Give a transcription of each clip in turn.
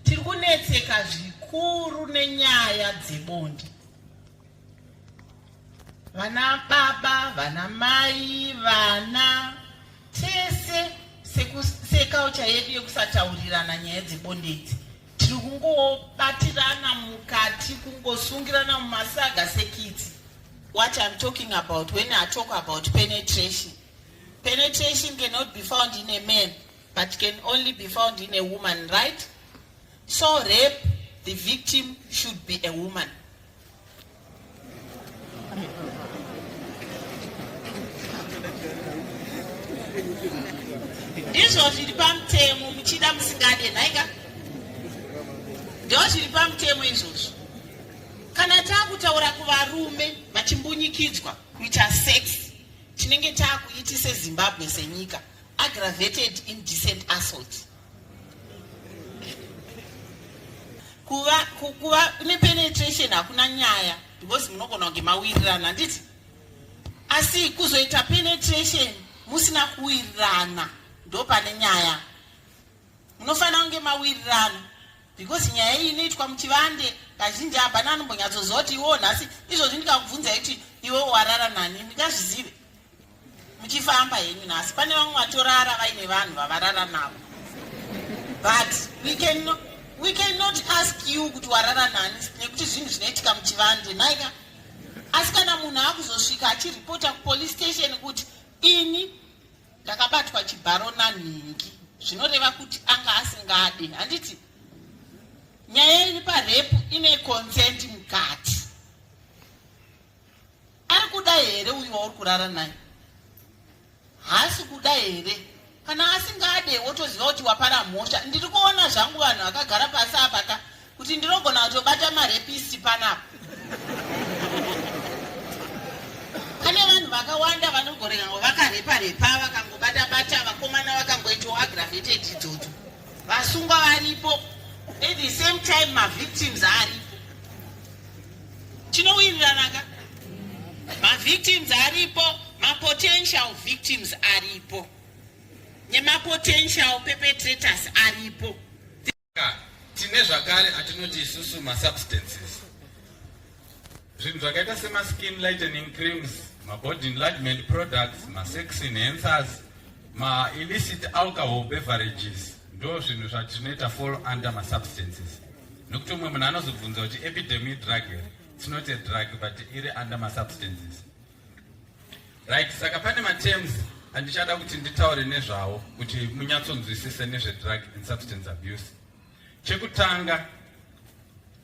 Tiri kunetseka zvikuru nenyaya dzebonde. Vana baba, vana mai, vana tese sekulture yedu yekusataurirana nyaya dzebonde idzi tiri kungobatirana mukati kungosungirana mumasaga sekitsi what i'm talking about when i talk about penetration penetration cannot be found in a man but can only be found in a woman right so rape the victim should be a woman ndizvo zviri pamutemo muchida musingade nhaika ndo zviri pamutemo izvozvo kana taakutaura kuvarume vachimbunyikidzwa kuita sex tinenge taakuiti sezimbabwe senyika aggravated indecent assault kuva kuva nepenetration hakuna nyaya because munogona kunge mawirirana handiti asi kuzoita penetration musina kuwirirana ndo pane nyaya munofanira kunge mawirirana because nyaya iyi inoitwa muchivande kazhinji hapana anombonyatsoziva kuti iwo nhasi izvozvi ndikakubvunza kuti iwe warara nani ndingazvizive muchifamba henyu nhasi pane vamwe vatorara vaine vanhu vavarara navo but we can no, we cannot ask you kuti warara nani nekuti zvinhu zvinoitika muchivande maika asi kana munhu akuzosvika achiripota kupolice station kuti ini ndakabatwa chibharo nanhingi zvinoreva kuti anga asingadi handiti nyaya iri parepu ine consent mukati Ari kuda here uyu wauri kurara naye? Haasi kuda here? Kana asingade wotoziva kuti wapara mhosva. Ndiri kuona zvangu vanhu vakagara pasi apa ka kuti ndinogona kutobata marepisi panapa. Pane vanhu vakawanda vanogorega ngo vakarepa repa vakangobata bata vakomana vakangoitwa aggravated idzodzo. Vasungwa varipo. At the same time ma victims aripo. Tinowiriranaka. Ma victims aripo, ma potential victims aripo. Nema potential perpetrators aripo. Tine zvakare atinoti isusu ma substances. Zvinhu zvakaita sema skin lightening creams, ma body enlargement products, ma sex enhancers, ma illicit alcohol beverages ndo zvinhu zvatinoita fall under ma substances. nokuti umwe munhu anozobvunza kuti epidemi drug here tinote drug but iri under masubstances right saka pane matems andichada kuti nditaure nezvawo kuti munyatsonzwisise nezvedrug and substance abuse chekutanga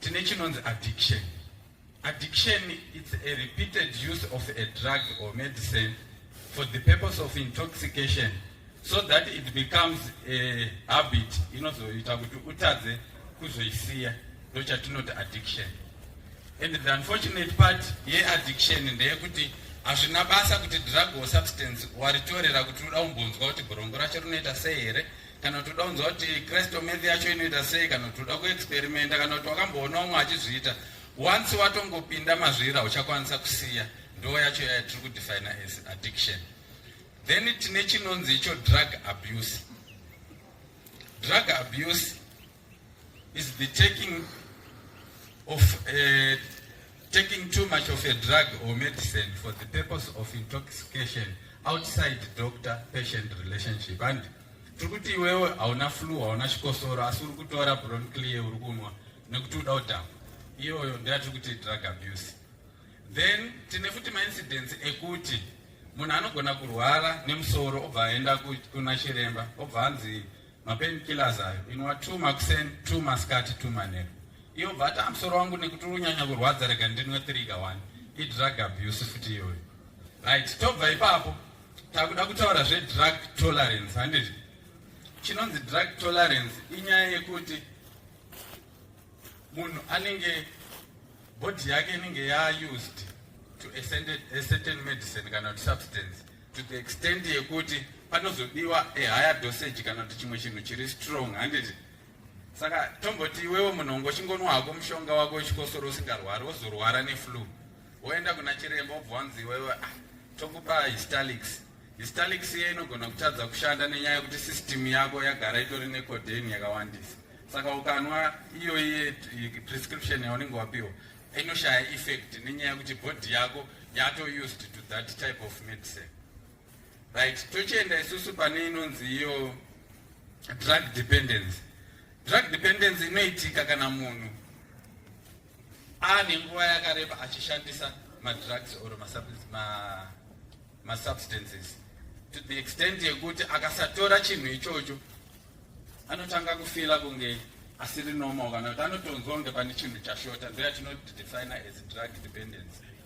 tine chinonzi addiction Addiction it's a repeated use of a drug or medicine for the purpose of intoxication so that it becomes a habit inozoita kuti utadze kuzoisiya ndochatinoti addiction and the unfortunate part yeaddiction ndeyekuti hazvina basa kuti drug or substance waritorera kuti uda kumbonzwa kuti gorongo racho rinoita sei here kana kuti uda kunzwa kuti kristo math yacho inoita sei kana kuti uda kuexperimenta kana kuti wakamboona umwe achizviita once watongopinda mazvira uchakwanisa kusiya ndo yacho yaya tiri kudefina as addiction then tine chinonzi icho drug abuse drug abuse is the taking of uh, taking too much of a drug or medicine for the purpose of intoxication outside doctor patient relationship and tiri kuti iwewe hauna flu hauna chikosoro asi uri kutora bronclear uri kunwa nekuti uda udhamba iyoyo ndeyatiri kuti drug abuse then tine futi maincidence ekuti munhu anogona kurwara nemusoro obva aenda kuna chiremba obva anzi mapain killers ayo inwa two makuseni two masikati two manheru iyo bvata musoro wangu nekuti unyanya kurwadza rega ndinwe three kawani idrug abuse futi iyoyo right tobva ipapo takuda kutaura zvedrug tolerance handizvo chinonzi drug tolerance inyaya yekuti munhu anenge body yake inenge yaused to a certain medicine kana kuti substance to the extent yekuti panozodiwa a higher dosage kana kuti chimwe chinhu chiri strong handiti saka tomboti iwewo munhongo chingonwa hako mushonga wako wechikosoro usingarwari wozorwara neflu woenda kuna chiremba obva wanzi iwewe ah, tokupa histalics histalics iye inogona kutadza kushanda nenyaya yekuti system yako yagara itori necoden yakawandisa saka ukanwa iyo iye prescription yaunenge wapiwa inoshaya effect nenyaya yekuti body yako yato used to that type of medicine right tochienda isusu pane inonzi iyo drug dependence drug dependence inoitika kana munhu ane nguva yakareba achishandisa madrugs or masubstances to the extent yekuti akasatora chinhu ichocho anotanga kufila kunge asiri normal kana kuti anotonzwa kunge pane chinhu chashota ndoyatinoti designer as drug dependency